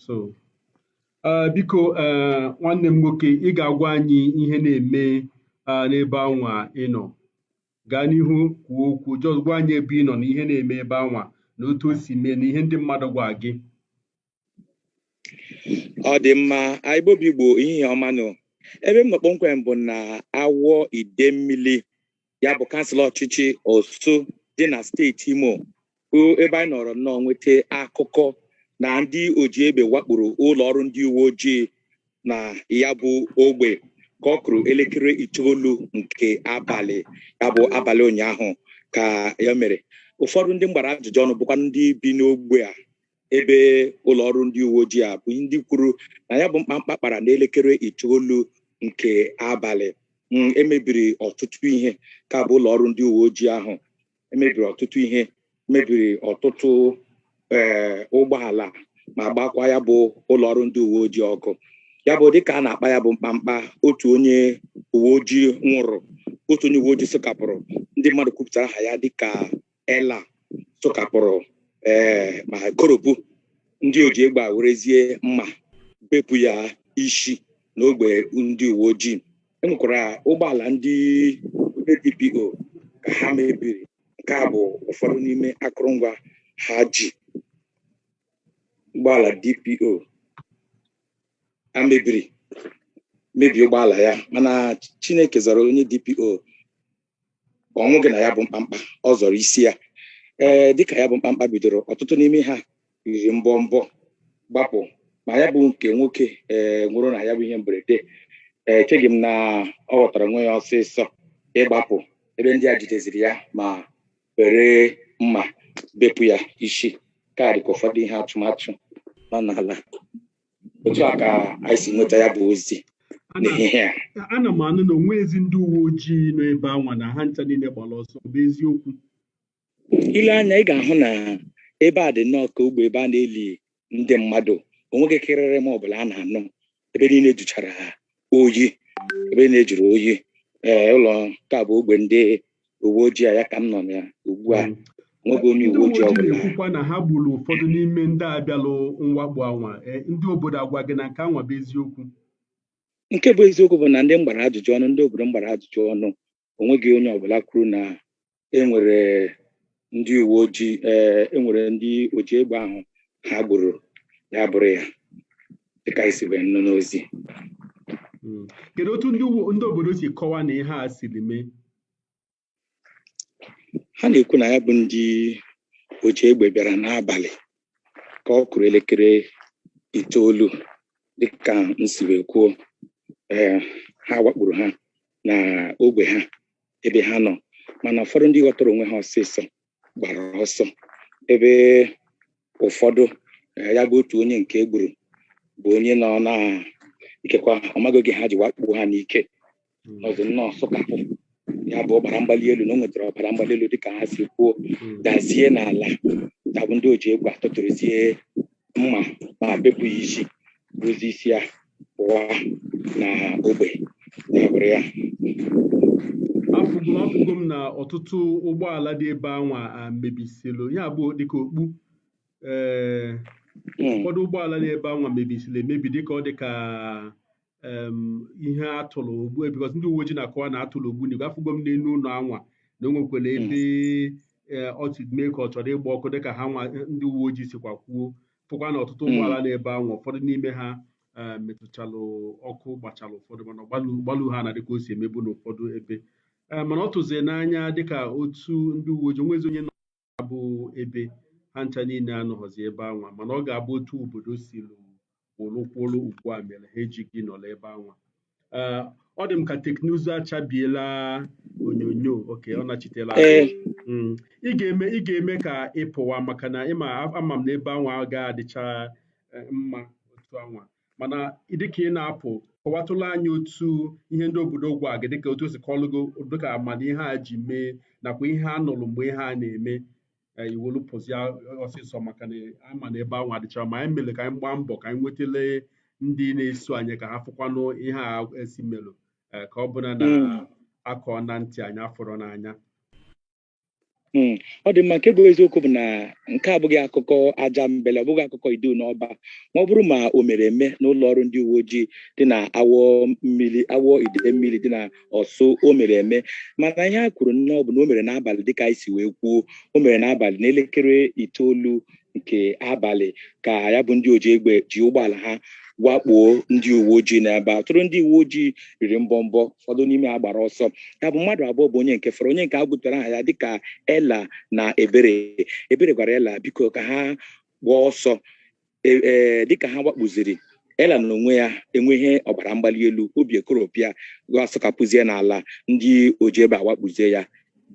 so uh, biko uh, nwanne m nwoke ị ga-agwa anyị ihe na-eme uh, n'ebe anwa ị nọ gaa n'ihu kwuo okwu jọs gwa anyị ebe ị nọ na ihe na-eme ebe anwa na otu o si mee na ihe ndị mmadụ gwa gị ọ dị mma a Igbo bụ Igbo ehihie ọma nụ ebe m nọ kpọmkwem bụ na Awo Idemili ya bụ kansụl ọchịchị Orsu dị na steeti Imo bụ ebe anyị nọrọ nnọọ nweta akụkọ na ndị oji egbe wakporo ụlọ ọrụ ndị uwe ojii na ya bụ ogbe ka ọ kụrụ elekere itoolu nke abalị ya bụ abalị ụnyaahụ ka ya mere ụfọdụ ndị m gbara ajụjụ ọnụ bụkwa ndị bi n'ogbe a ebe ụlọ ọrụ ndị uwe ojii a bụ ndị kwuru na ya bụ mkpamkpa kpara n'elekere itoolu nke abalị mm, emebiri ọtụtụ ihe ka bụ ụlọ ọrụ ndị uwe ojii ahụ emebiri ọtụtụ ihe mebiri ọtụtụ ee eh, ụgbọala ma gbakwa ya bụ ụlọ ọrụ ndị uwe ojii ọkụ ya bụ dịka a na-akpa ya bụ mkpamkpa otu onye uwe ojii nwụrụ otu onye uwe ojii lance corporal ndị mmadụ kwupụtara aha ya dịka eh lance corporal ee ma koropu ndị oji egbe a werezie mma bepụ ya isi n'ogbe ndị uwe ojii enwekwara ụgbọala ndị eh DPO ka ha mebiri nke a bụ ụfọdụ n'ime akụrụngwa ha ji ụgbọala DPO a mebiri mebie ụgbọala ya mana Chineke zọrọ onye DPO ọ nwụghị na ya bụ mkpamkpa ọ zọrọ isi ya ee dịka ya bụ mkpamkpa bidoro ọtụtụ n'ime ha riri mbọmbọ gbapụ ma ya bụ nke nwoke ee nwụrụ na ya bụ ihe mberede ee echeghị m na ọ ghọtara onwe ya ọsịsọ ịgbapụ ebe ndị a jideziri ya ma were mma bepụ ya isi ka dịka ụfọdụ ihe atụmatụ nọ n'ala otu a ka anyị si nweta ya bụ ozi n'ehihie a ana m anụ na o nwezi ndị uwe ojii nọ ebe anwa na ha ncha niile gbara ọsọ ọ bụ eziokwu i lee anya ị ga-ahụ na ebe a dị nnọọ ka ogbe ebe a na-eli ndị mmadụ onweghị kịrịrị ma ọ bụla a na-anụ ebe niile jụchara ha oyi ebe niile jụrụ oyi ee ụlọ nke a bụ ogbe ndị uwe ojii a ya ka m nọ na ya ugbu a Mm. nweghị onye ndị uwe uwe ojii ojii ọbụla na-ekwukwa na ha gburu ụfọdụ n'ime ndị a bịalụ mwakpo anwa Eh, ndị obodo agwa gị na nke anwa bụ eziokwu nke bụ eziokwu bụ na ndị m gbara ajụjụ ọnụ ndị obodo m gbara ajụjụ ọnụ onweghị onye ọbụla kwuru na enwere ndị uwe ojii ee enwere ndị oji egbe ahụ ha gburu ya bụrụ ya dịka esi wee nụ n'ozi Mm. kedu otu ndị uwe- ndị obodo si kọwa na ihe a siri mee ha na-ekwu na ya bụ ndị oji egbe bịara n'abalị ka ọ kụrụ elekere itoolu dịka nsi wee kwuo ee ha wakporo ha na ogbe ha ebe ha nọ mana ụfọdụ ndị ghọtara onwe ha ọsịsọ gbara ọsọ ebe ụfọdụ eh, ya bụ otu onye nke egburu bụ onye nọ na ikekwa ọmaghị oge ha ji wakpo ha n'ike hmm. ọzọ nnọọ sụkapụ ya bụ ọbara mgbali elu na o nwetara ọbara mgbali elu dịka ha si kwuo hmm. dazie n'ala ya bụ ndị oji egbe atụtụrụzie mma ma bepụ ya isi buzi isi ya pụwa na ogbe ya bụrụ ya afụgo afụgo m na ọtụtụ ụgbọala dị ebe anwa a mebisịlụ ya bụ dịka okpu ee Mm, ụfọdụ ụgbọala dị ebe anwa mebisịlụ emebi dịka ọ dịka ihe atụrụ ogbu because ndị uwe ojii na-akọwa na atụrụ ogbunigwe afụgo m n'enu ụnọ anwa na o nwekwara ebe ọtụ mee ka ọ chọrọ ịgba ọkụ dịka ha nwa ndị uwe ojii sikwa kwuo fụkwa na ọtụtụ ụgbọala nọ ebe anwa ụfọdụ n'ime ha metụchalụ ọkụ gbachalụ ụfọdụ mana ọ gbalụ ha na dịka o si emebu n'ụfọdụ ebe mana ọ tụzie n'anya dịka otu ndị uwe ojii onwezi onye abụ ebe ha ncha niile anọghọzi ebe anwa mana ọ ga-abụ otu obodo si wolu kwụlụ ugbu a mere ha ejighị nọrọ ebe anwa eh, ọ dị m ka teknụzụ achabiela onyonyo okay ọ nachitela eh. mm. ị ga-eme ị ga-eme ka ị pụwa maka na ama m na ebe anwa ga-adịcha eh, mma otu anwa mana dịka ị na-apụ kọwatụlụ anyị otu ihe ndị obodo gwa gị dịka otu esi kọọlụ gị dịka mana ihe a ji mee nakwa ihe a nụrụ mgbe ihe a na-eme e, i welu pụzia ọsịsọ maka na ama na ebe anwa adịcharọ mma anyị mere ka anyị gbaa mbọ ka anyị nwetelu ndị na-eso anyị ka ha fụkwanụ ihe a esi melụ e, ka ọ bụla na hmm. akọ na ntị anyị afụrọ n'anya Hmm. ọ dị mma nke bụ eziokwu bụ na nke a abụghị akụkọ ajambele ọ bụghị akụkọ Idu na Ọba ma ọ bụrụ ma o mere eme n'ụlọ ọrụ ndị uwe ojii dị na awọ mmiri Awo Idemili dị na Orsu o mere eme mana ihe a kwuru nnọọ bụ na o mere n'abalị dịka anyị si wee kwuo o mere n'abalị n'elekere itoolu nke abalị ka ya bụ ndị oji egbe ji ụgbọala ha wakpoo ndị uwe ojii n'ebe a ọtụtụ ndị uwe ojii riri mbọmbọ ụfọdụ n'ime ha gbara ọsọ ya bụ mmadụ abụọ bụ onye nke fọrọ onye nke a gụtara aha ya dịka Ella na Ebere Ebere gwara Ella biko ka ha gbaa ọsọ e, e, dịka ha wakpuziri Ella na onwe ya enwee ọbara mgbali elu obi ekoropụ ya ya asọkapụzie n'ala ndị oji egbe awakpuzie ya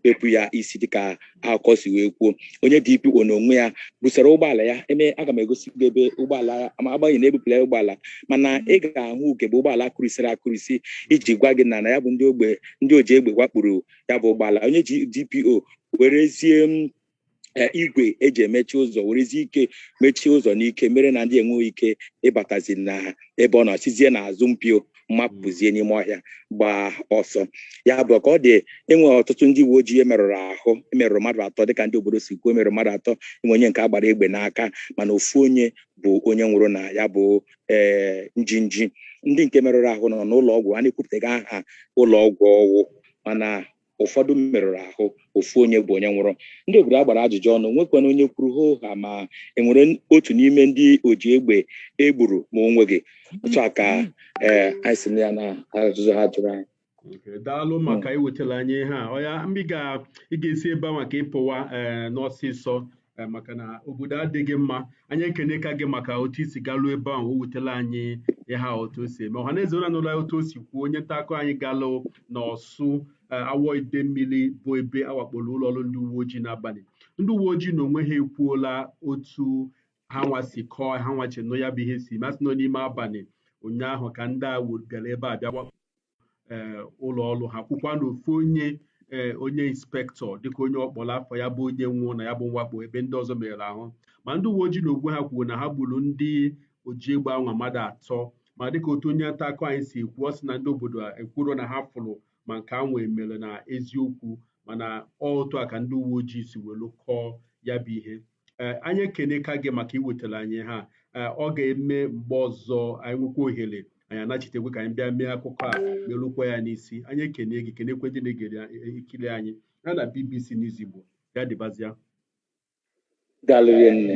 bepụ ya isi dịka akụkọ si wee kwuo onye DPO n'onwe ya busara ụgbọala ya emee aga m egosi gị ebe ụgbọala ma agbanyeghị na ebupụla ụgbọala mana ị ga-ahụ ugegbe ụgbọala akụrisiri akụrisi iji gwa gị na na ya bụ ndị ogbe ndị oji egbe wakpuru ya bụ ụgbọala onye DPO werezie e, igwe eji emechi ụzọ werezi ike mechie ụzọ n'ike mere na ndị enweghị ike ịbatazi na ebe ọ nọ sizie n'azụ mpio mapụzie n'ime ọhịa gbaa ọsọ ya bụ ka ọ dị enwe ọtụtụ ndị uwe ojii emerụrụ ahụ emerụrụ mmadụ atọ dịka ndị obodo si kwuo emerụrụ mmadụ atọ enwe onye nke agbara egbe n'aka mana ofu onye bụ onye nwụrụ na ya bụ ee eh, njinji ndị nke merụrụ ahụ nọ n'ụlọ ọgwụ a na-ekwupụtaghị aha ụlọ ọgwụ ọ wụ mana ụfọdụ merụrụ ahụ ofu onye bụ onye nwụrụ ndị obodo a gbara ajụjụ ọnụ nwekwana onye kwuru hoo haa ma enwere otu n'ime ndị oji egbe egburu ma o nweghị otu a ka ee anyị si na ya na ajụjụ ha jụrụ anyị Okay, daalụ maka iwetara anyị ihe a ọya mgbe ị ga- ị ga-esi ebe anwa ka ị pụwa ee n'ọsịsọ eh, maka na obodo adịghị mma anyị ekene ka gị maka otu i si garuo ebe ahụ wetela anyị ihe a otu o si eme ọha na eze unu anụla otu o si kwuo onye nta akụkọ anyị galụ na Orsu eh, Awo Idemili bụ ebe awakporo ụlọ ọrụ ndị uwe ojii n'abani ndị uwe ojii na onwe ha ekwuola otu ha nwa si kọọ ha nwa che na ya bụ ihe si mee sị na n'ime abani ụnyaahụ ka ndị a bịara ebe a bịa eh, ụlọ ọrụ ha kwukwa na ofu onye eh, onye inspektọ dịka onye ọ kpọrọ afa ya bụ onye nwụrụ na ya bụ mwakpo ebe ndị ọzọ merụrụ ahụ ma ndị uwe ojii na ogwe ha kwuru na ha gburu ndị oji egbe anwa mmadụ atọ ma dịka otu onye nta akụkọ anyị si kwuo sị na ndị obodo a ekwuro na ha fụrụ ma nke anwa emere na eziokwu mana ọ otu a ka ndị uwe ojii si welu kọọ ya bụ ihe ee anyị ekeneka gị maka iwetara anyị ihe a ee ọ ga-eme mgbe ọzọ anyị nwekwa ohere anyị anachitekwe ka anyị bịa mee akụkọ a merukwa ya n'isi anyị ekene gị kenekwe ndị na-egere ekiri anyị na BBC News Igbo ya dịbazịa Daalụ rinne.